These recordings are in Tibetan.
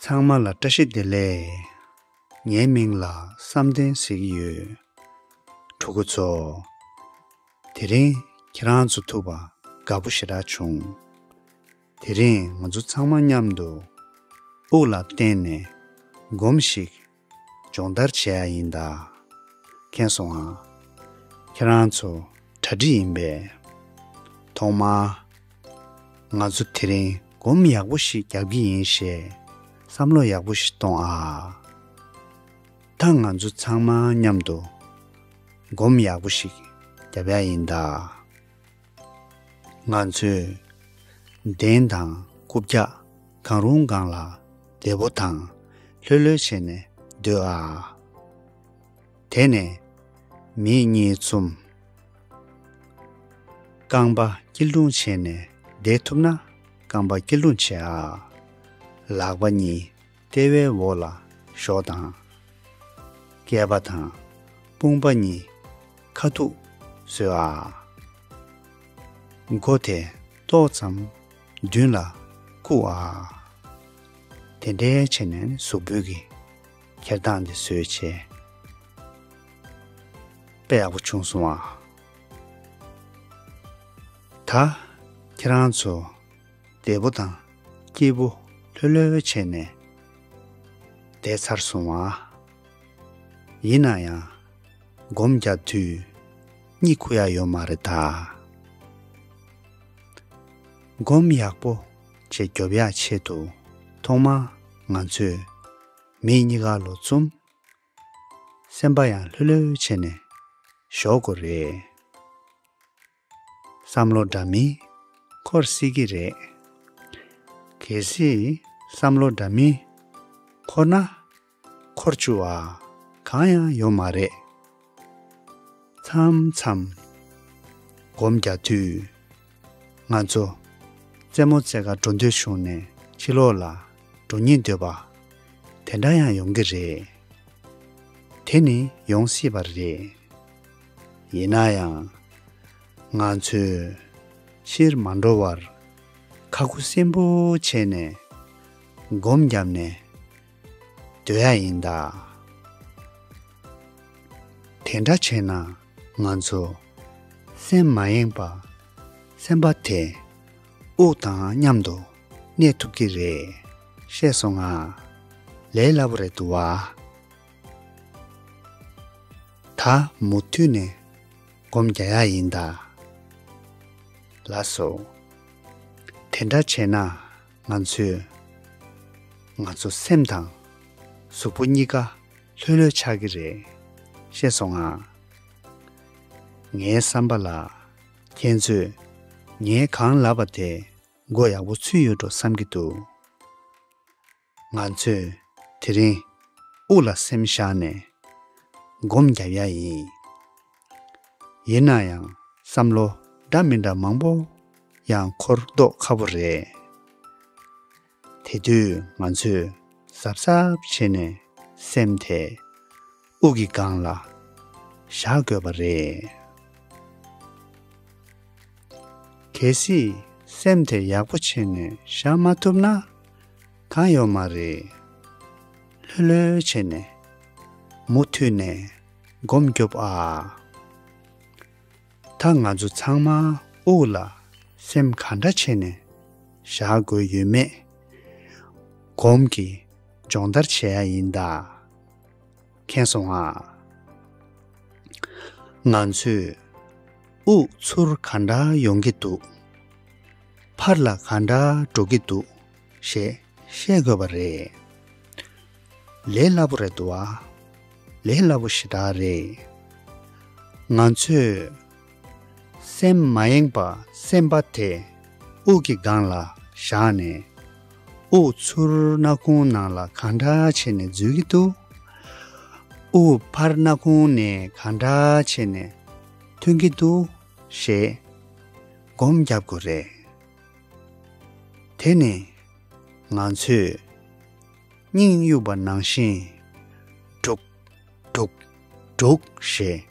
ཚང་མ་ལ་བཀྲ་ཤིས་བདེ་ལེགས། ངའི་མིང་ལ་བསམ་གཏན་ཟེར་གྱི་ཡོད། ཕྲུ་གུ་ཚོ། དེ་རིང་ཁྱེད་རང་ཚོ་ཐུག་པ་དགའ་པོ་ཞེ་དྲག་བྱུང། དེ་རིང་ང་ཚོ་ཚང་མ་མཉམ་དུ་དབུགས་ལ་བརྟེན་ནས་སྒོམ་ཞིག་སྦྱོང་བརྡར་བྱས་ཡ་ཡིན་ད། མཁྱེན་སོང་ང། ཁྱེད་རང་ཚོ་གྲ་སྒྲིག་ཡིན་པས། ཐོག་མར། ང་ཚོ་དེ་རིང་སྒོམ་ཡག་པོ་ཞིག་རྒྱག་གི་ཡིན་ཞེས་བསམ་བློ་ཡག་པོ་ཞིག་གཏོང་ཨ། ད་ང་ཚོ་ཚང་མ་མཉམ་དུ་སྒོམ་ཡག་པོ་ཞིག་རྒྱབ་ཡ་ཡིན་ད། ང་ཚོས། གདན་དང་སྐུ་བརྒྱ། གང་རུང་གང་ལ། བདེ་པོ་དང། ལྷོད་ལྷོད་བྱས་ནས་སྡོད་ཨ། དེ་ནས། མིག་གཉིས་བཙུམ། རྐང་པ་སྐྱིལ་ཀྲུང་བྱས་ནས་བསྡད་ཐུབ་ན་རྐང་པ་སྐྱིལ་ཀྲུང་བྱས་ཨ། ལག་པ་གཉིས། ལྟེ་བའི་འོག་ལ་ཞོག་དང། རྐེད་པ་དང་དཔུང་པ་གཉིས་ཁ་ཐུག་སོས་ཨ། མགོ་དེ་ཏོག་ཙམ་མདུན་ལ་བཀུག་ཨ། དེ་འདྲའི་ཆེ་ནས་གཟུགས་འབུལ་གྱི་འཁྱེར་སྟངས་དེ་བཟོས་བྱས་པས་ཡག་པོ་བྱུང་སོང་ཨ། ད་ཁྱེད་རང་ཚོ། འདས་པོ་དང་སྐྱེས་བུ་ལྷོད་ལྷོད་བྱས་ནས་བསྡད་ཚར་སོང་བ། ཡིན་ན་ཡང་སྒོམ་རྒྱག་དུས་གཉིད་ཁུག་ཡག་ཡོད་མ་རེད་ད། སྒོམ་ཡག་པོ་བྱེད་རྒྱོབ་ཡག་ཆེད་དུ་ཐོག་མར་ང་ཚོས་མི་གཉིས་ཀ་ལོ་བཙུམ། སེམས་པ་ཡང་ལྷོད་ལྷོད་བྱས་ནས་ཞོག་གོ་རེད། བསམ་བློ་འདྲ་མིན་འཁོར་སྲིད་ཀྱི་རེད། གལ་སྲིད་བསམ་བློ་འདྲ་མིན་འཁོར་ན། འཁོར་བཅུ་བ་གང་ཡང་ཡོད་མ་རེད། མཚམས་མཚམས་སྒོམ་རྒྱག་དུས། ང་ཚོ་རྩེད་མོ་རྩེ་ག་འགྲོ་འདོད་བྱུང་ནས་ཕྱི་ལོགས་ལ་འགྲོ་ཉེན་འདོད་པ། དེ་འདྲ་ཡང་ཡོང་གི་རེད། དེ་ནི་ཡོང་སྲིད་པ་རེད། ཡིན་ན་ཡང། ང་ཚོས། ཕྱིར་མ་འགྲོ་བར། ཁ་ཁུ་བསིམ་པོ་བྱས་ནས། སྒོམ་བརྒྱབ་ནས། སྡོད་ཡ་ཡིན་ད། དེ་འདྲ་བྱས་ན། ང་ཚོ། སེམས་མ་ཡེངས་པ། སེམས་པ་དེ། དབུགས་དང་མཉམ་དུ། གནས་ཐུབ་ཀྱི་རེད། ཤེས་སོང་ང། ལས་སླ་པོ་རེད་འདུག་བ། ད་མུ་མཐུད་ནས་སྒོམ་རྒྱག་ཡ་ཡིན་ད། ལ་སོ། དེ་འདྲ་བྱས་ན་ང་ཚོས། ང་ཚོ་སེམས་དང་གཟུགས་པོ་གཉིས་ཀ་ལྷོད་ལྷོད་ཆགས་ཀྱི་རེད་ཤེས་སོང་ང། ངའི་བསམ་པ་ལ་ཁྱེད་ཚོས་ངའི་གང་ལབ་པ་དེ་མགོ་ཡག་པོ་ཚུད་ཡོད་འགྲོ་བསམ་གྱི་འདུག། ང་ཚོས་དེ་རིང་དབུགས་ལ་སེམས་བཞག་ནས་སྒོམ་བརྒྱབ་ཡ་ཡིན། ཡིན་ན་ཡང་བསམ་བློ་འདྲ་མི་འདྲ་མང་པོ་ཡང་འཁོར་ལྡོག་ཁ་པོ་རེད། དེ་དུས་ང་ཚོས་གཟབ་གཟབ་བྱེད་ནས་སེམས་དེ། དབུགས་ཀྱི་སྒང་ལ་བཞག་དགོས་པ་རེད། གལ་སྲིད་སེམས་དེ་ཡག་པོ་བྱས་ནས་བཞག་མ་ཐུབ་ན་གང་ཡོད་མ་རེད། ལྷོད་ལྷོད་བྱས་ནས་མུ་མཐུད་ནས་སྒོམ་རྒྱོབ་ཨ། ད་ང་ཚོ་ཚང་མ་དབུགས་ལ་སེམས་ག་འདྲ་བྱས་ནས་བཞག་དགོས་ཡོད་མེད་སྒོམ་གྱི་སྦྱོང་བརྡར་བྱེད་ཡ་ཡིན་ད། མཁྱེན་སོང་ཨ། ང་ཚོས་དབུགས་ཚུར་ག་འདྲ་ཡོང་གི་འདུག་ཕར་ལ་ག་འདྲ་འགྲོ་གི་འདུག་ཞེས་བཤད་དགོས་པ་རེད། ལས་སླ་པོ་རེད་འདུག་ལས་སླ་པོ་ཞེ་དྲག་རེད། ང་ཚོས། སེམས་མ་ཡེངས་པ་སེམས་དཔའ་དེ། དབུགས་ཀྱི་སྒང་ལ་བཞག་ནས། དབུགས་ཚུར་སྣ་ཁུང་ནང་ལ་གང་འདྲ་བྱས་ནས་འཛུལ་གྱི་འདུག། དབུགས་ཕར་སྣ་ཁུང་ནས་གང་འདྲ་བྱས་ནས་ཐོན་གྱི་འདུག་ཞེས་སྒོམ་བརྒྱབ་དགོས་རེད། དེ་ནི་ང་ཚོས་སྙིང་དབྱུག་པ་ནང་བཞིན། སྒྲུག། སྒྲུག། སྒྲུག་ཞེས་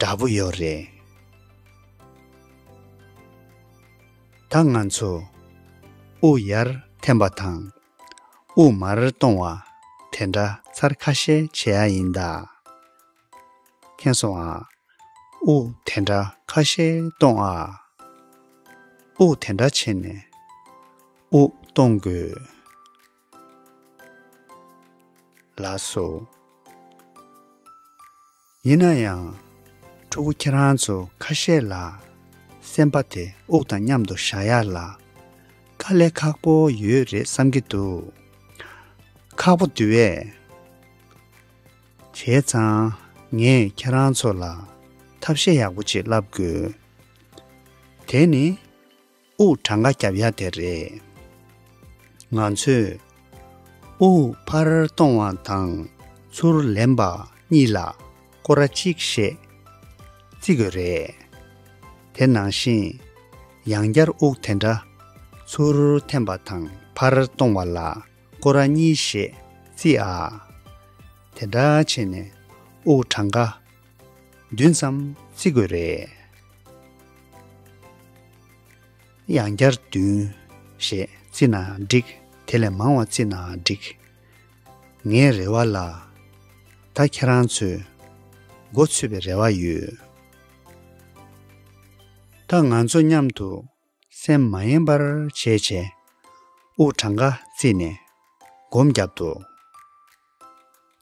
འདྲ་པོ་ཡོད་རེད། ད་ང་ཚོ་དབུ་ཡར་འཐེན་པ་དང་དབུ་མར་གཏོང་བ་དེ་འདྲ་ཚར་ཁ་ཤས་བྱེད་ཡ་ཡིན་ད། མཁྱེན་སོང་ཨ། དབུ་དེ་འདྲ་ཁ་ཤས་གཏོང་ཨ། དབུ་དེ་འདྲ་བྱེད་ནས་དབུ་གཏོང་དགོས། ལགས་སོ། ཡིན་ན་ཡང། ཕྲུ་གུ་ཁྱེད་རང་ཚོ་ཁ་ཤས་ལ། སེམས་པ་དེ་དབུགས་དང་མཉམ་དུ་བཞག་ཡ་ལ། དཀའ་ལས་ཁག་པོ་ཡོད་རེད་བསམ་གྱི་འདུག། ཁག་པོ་དེ་བས། བྱས་ཙང་ངས་ཁྱེད་རང་ཚོ་ལ་ཐབས་ཤེས་ཡག་པོ་ཅིག་བསླབ་དགོས། དེ་ནི། དབུགས་གྲངས་ཀ་རྒྱབ་ཡ་དེ་རེད། ང་ཚོས། དབུགས་ཕར་གཏོང་བ་དང་ཚུར་ལེན་པ་གཉིས་ལ་སྐོར་ར་གཅིག་ཞེས་བརྩི་དགོས་རེད། དེ་ནང་བཞིན། ཡང་བསྐྱར་དབུགས་དེ་འདྲ་ཚུར་འཐེན་པ་དང་ཕར་གཏོང་བ་ལ་སྐོར་ར་གཉིས་ཞེས་བརྩི་ཨ། དེ་འདྲ་བྱས་ནས་དབུགས་གྲངས་ཀ། བདུན་ཙམ་བརྩི་དགོས་རེད། ཡང་བསྐྱར་བདུན་ཞེས་བརྩི་ན་འགྲིག་དེ་ལས་མང་བ་བརྩི་ན་འགྲིག། ངའི་རེ་བ་ལ། ད་ཁྱེད་རང་ཚོས་འགོ་ཚུད་པའི་རེ་བ་ཡོད། ད་ང་ཚོ་མཉམ་དུ་སེམས་མ་ཡེངས་པར་བྱས་བྱས། དབུགས་གྲངས་ཀ་བརྩིས་ནས་སྒོམ་བརྒྱབ་འདུག་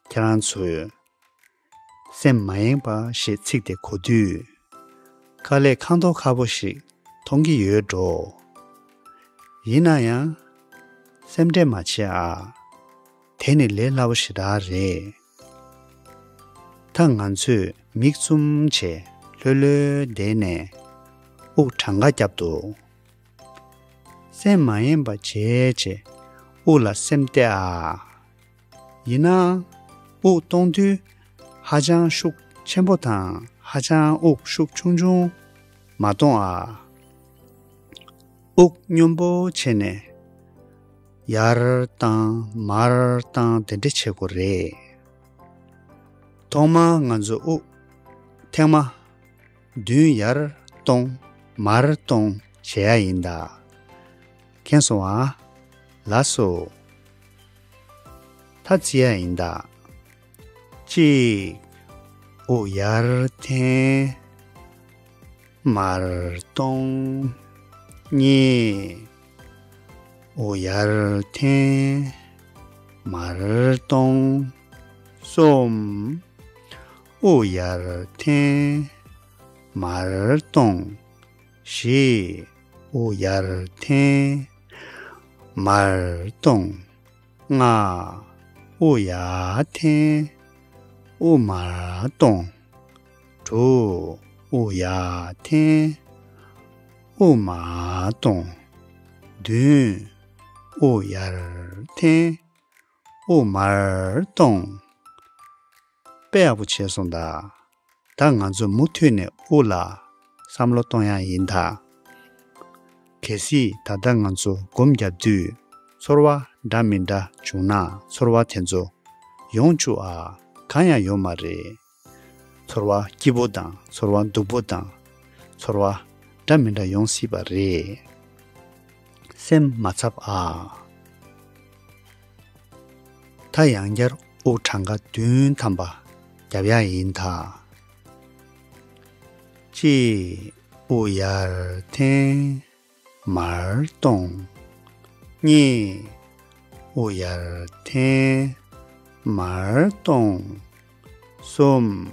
ཁྱེད་རང་ཚོས། སེམས་མ་ཡེངས་པ་ཞེས་ཚིག་དེ་གོ་དུས། དཀའ་ལས་ཁ་མཐོ་ཁ་བོ་ཞིག་མཐོང་གི་ཡོད་འགྲོ། ཡིན་ན་ཡང། སེམས་ཁྲལ་མ་བྱེད་ཨ། དེ་ནི་ལས་སླ་བོ་ཞེ་དྲག་རེད། ད་ང་ཚོས་མིག་བཙུམ་བྱས་ལྷོད་ལྷོད་བསྡད་ནས་དབུགས་གྲངས་ཀ་བརྒྱབ་འདུག། སེམས་མ་ཡེངས་པ་བྱས་བྱས་དབུགས་ལ་སེམས་གཏད་ཨ། ཡིན་ནའང། དབུགས་གཏོང་དུས་ཧ་ཅང་ཤུགས་ཆེན་པོ་དང་ཧ་ཅང་དབུགས་ཤུགས་ཆུང་ཆུང་མ་གཏོང་ཨ། དབུགས་སྙོམས་པོ་བྱས་ནས་ཡར་བཏང་མར་བཏང་དེ་འདྲ་བྱེད་དགོས་རེད། ཐོག་མར་ང་ཚོ་དབུགས་ཐེངས་མ་བདུན་ཡར་གཏོང་མར་གཏོང་བྱེད་ཡ་ཡིན་ད། མཁྱེན་སོང་ཨ། ལགས་སོ། ཐ་ཚིག་ཡང་ཡིན་ད། གཅིག། དབུགས་ཡར་འཐེན། མར་གཏོང། གཉིས། དབུགས་ཡར་འཐེན། མར་གཏོང། གསུམ། དབུགས་ཡར་འཐེན། མར་གཏོང། ཞེས། དབུ་ཡར་འཐེན། མར་ལྟུང། ལྔ། དབུ་ཡར་འཐེན། དབུ་མར་ལྟུང། དྲུག། དབུ་ཡར་འཐེན། དབུ་མར་ལྟུང། བདུན། དབུ་ཡར་འཐེན། དབུ་མར་གཏོང། དཔེ་ཡག་པོ་བྱས་སོང་ད། ད་ང་ཚོ་མུ་མཐུད་ནས་དབུ་ལ་བསམ་བློ་གཏོང་ཡག་ཡིན་ད། གལ་སྲིད་ད་ལྟ་ང་ཚོ་སྒོམ་བརྒྱབ་དུས་ཚོར་བ་འདྲ་མི་འདྲ་བྱུང་ན་ཚོར་བ་དེ་ཚོ་ཡོང་བཅུག་ཨ་གང་ཡང་ཡོད་མ་རེད། ཚོར་བ་སྐྱིད་པོ་དང་ཚོར་བ་སྡུག་པོ་དང། ཚོར་བ། འདྲ་མི་འདྲ་ཡོང་སྲིད་པ་རེད། སེམས་མ་འཚབ་ཨ། ད་ཡང་བསྐྱར་དབུགས་གྲངས་ཀ་བདུན་ཐམ་པ་བརྒྱབ་ཡ་ཡིན་ད། ཅེས་དབུགས་ཡར་འཐེན། མར་སྟོང། གཉིས། དབུ་ཡར་འཐེན། མར་སྟོང། གསུམ།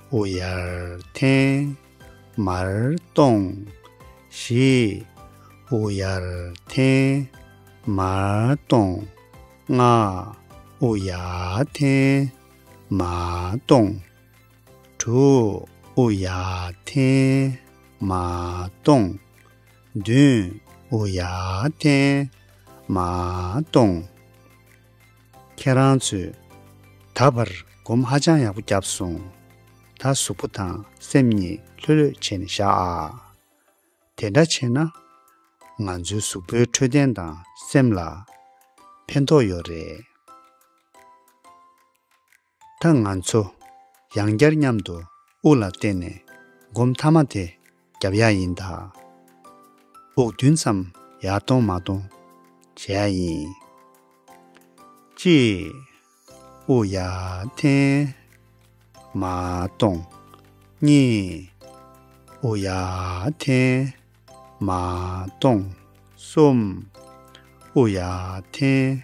དབུ་ཡར་འཐེན། མར་སྟོང། བཞི། དབུ་ཡར་འཐེན། མར་སྟོང། ལྔ། དབུ་ཡར་འཐེན། མར་སྟོང། དྲུག། ཨུ་ཡ་ཐན། མ་སྟོང། བདུན། ཨུ་ཡ་ཐན། མ་སྟོང། ཁྱེད་རང་ཚོས་ད་བར་སྒོམ་ཧ་ཅང་ཡག་པོ་བརྒྱབ་སོང། ད་གཟུགས་པོ་དང་སེམས་གཉིས་ལྷོད་ལྷོད་བྱས་ནས་བཞག་ཨ། དེ་འདྲ་བྱས་ན། ང་ཚོའི་གཟུགས་པོའི་འཕྲོད་བསྟེན་དང་སེམས་ལ་ཕན་ཐོགས་ཡོད་རེད། ད་ང་ཚོ་ཡང་བསྐྱར་མཉམ་དུ་དབུགས་ལ་བརྟེན་ནས་སྒོམ་མཐའ་མ་དེ་རྒྱབ་ཡ་ཡིན་ད། དབུགས་བདུན་ཙམ་ཡར་གཏོང་མ་གཏོང་བྱེད་ཡ་ཡིན། ཅེས་དབུགས་ཡར་འཐེན། མ་གཏོང། གཉིས། དབུགས་ཡར་འཐེན། མ་གཏོང། གསུམ། དབུགས་ཡར་འཐེན།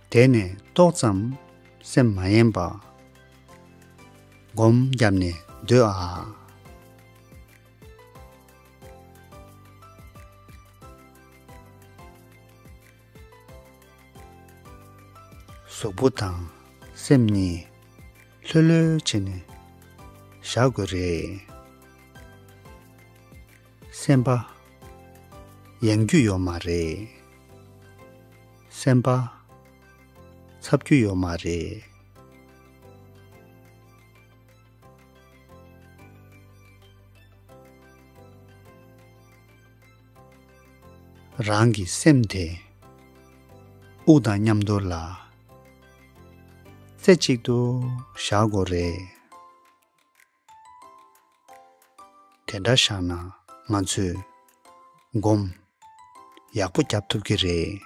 དད་ནས་ཏོག་ཙམ་སེམས་མ་ཡེངས་པ། སྒོམ་བརྒྱབ་ནས་སྡོད་ཨ། གཟུགས་པོ་དང་སེམས་གཉིས་ལྷོད་ལྷོད་བྱེད་ནས་བཞག་དགོས་རེད། སེམས་པ་ཡེངས་རྒྱུ་ཡོད་མ་རེད། སེམས་པ། ཚབ་རྒྱུ་ཡོད་མ་རེད། རང་གི་སེམས་དེ། དབུགས་དང་མཉམ་འདོར་ལ། རྩེ་གཅིག་ཏུ་བཞག་དགོས་རེད། དེ་འདྲ་བཞག་ན་ང་ཚོས། སྒོམ། ཡག་པོ་རྒྱབ་ཐུབ་ཀྱི་རེད།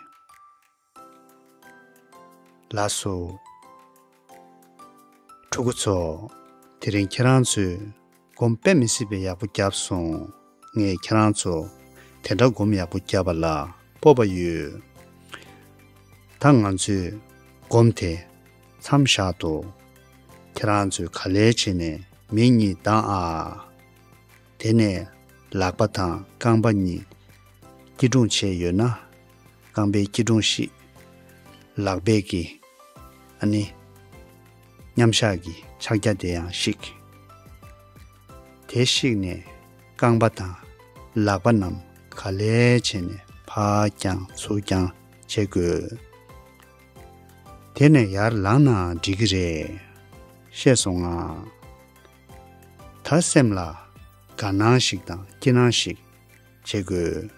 ལགས་སོ། ཕྲུ་གུ་ཚོ། དེ་རིང་ཁྱེད་རང་ཚོས། སྒོམ་དཔེ་མི་སྲིད་པས་ཡག་པོ་རྒྱབ་སོང། ངས་ཁྱེད་རང་ཚོ། དེ་འདྲ་སྒོམ་ཡག་པོ་བརྒྱབ་པ་ལ་སྤོབས་པ་ཡོད། ད་ང་ཚོས། སྒོམ་དེ། མཚམས་བཞག་འདུག། ཁྱེད་རང་ཚོས་ག་ལེར་བྱས་ནས་མི་གཉིས་བདང་ཨ། དེ་ནས། ལག་པ་དང་རྐང་པ་གཉིས། སྐྱིལ་ཀྲུང་བྱས་ཡོད་ན། རྐང་པའི་སྐྱིལ་ཀྲུང་བཤིག། ལག་རྦད་ཀྱི། ཨ་ནི། མཉམ་གཞག་གི་ཕྱག་རྒྱ་དེ་ཡང་བཤིག། དེ་བཤིགས་ནས་རྐང་པ་དང་ལག་པ་རྣམས་ག་ལེ་བྱས་ནས་ཕག་བརྐྱང་ཚུར་བརྐྱང་བྱེད་དགོས། དེ་ནས་ཡར་ལངས་ནའང་འགྲིག་གི་རེད། ཤེས་སོང་ང། ད་སེམས་ལ་དགའ་སྣང་ཞིག་དང་སྐྱིད་སྣང་ཞིག་བྱེད་དགོས།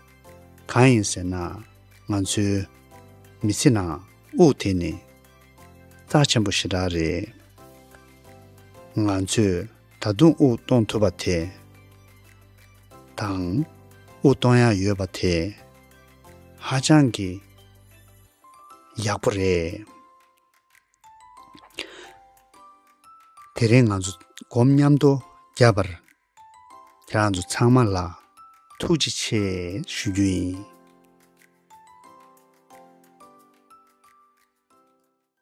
གང་ཡིན་ཟེར་ན་ང་ཚོའི་མི་ཚེ་ནང་དབུགས་དེ་ནི་རྩ་ཆེན་པོ་ཞེ་དྲག་རེད། ང་ཚོས་ད་དུང་དབུགས་གཏོང་ཐུབ་པ་དེ་དང། དབུགས་གཏོང་ཡག་ཡོད་པ་དེ་ཧ་ཅང་གི་ཡག་པོ་རེད། དེ་རིང་ང་ཚོ་སྒོམ་མཉམ་དུ་བརྒྱབ་པར་ཁྱེད་རང་ཚོ་ཚང་མ་ལ་ཐུགས་རྗེ་ཆེ་ཞུ་རྒྱུ་ཡིན།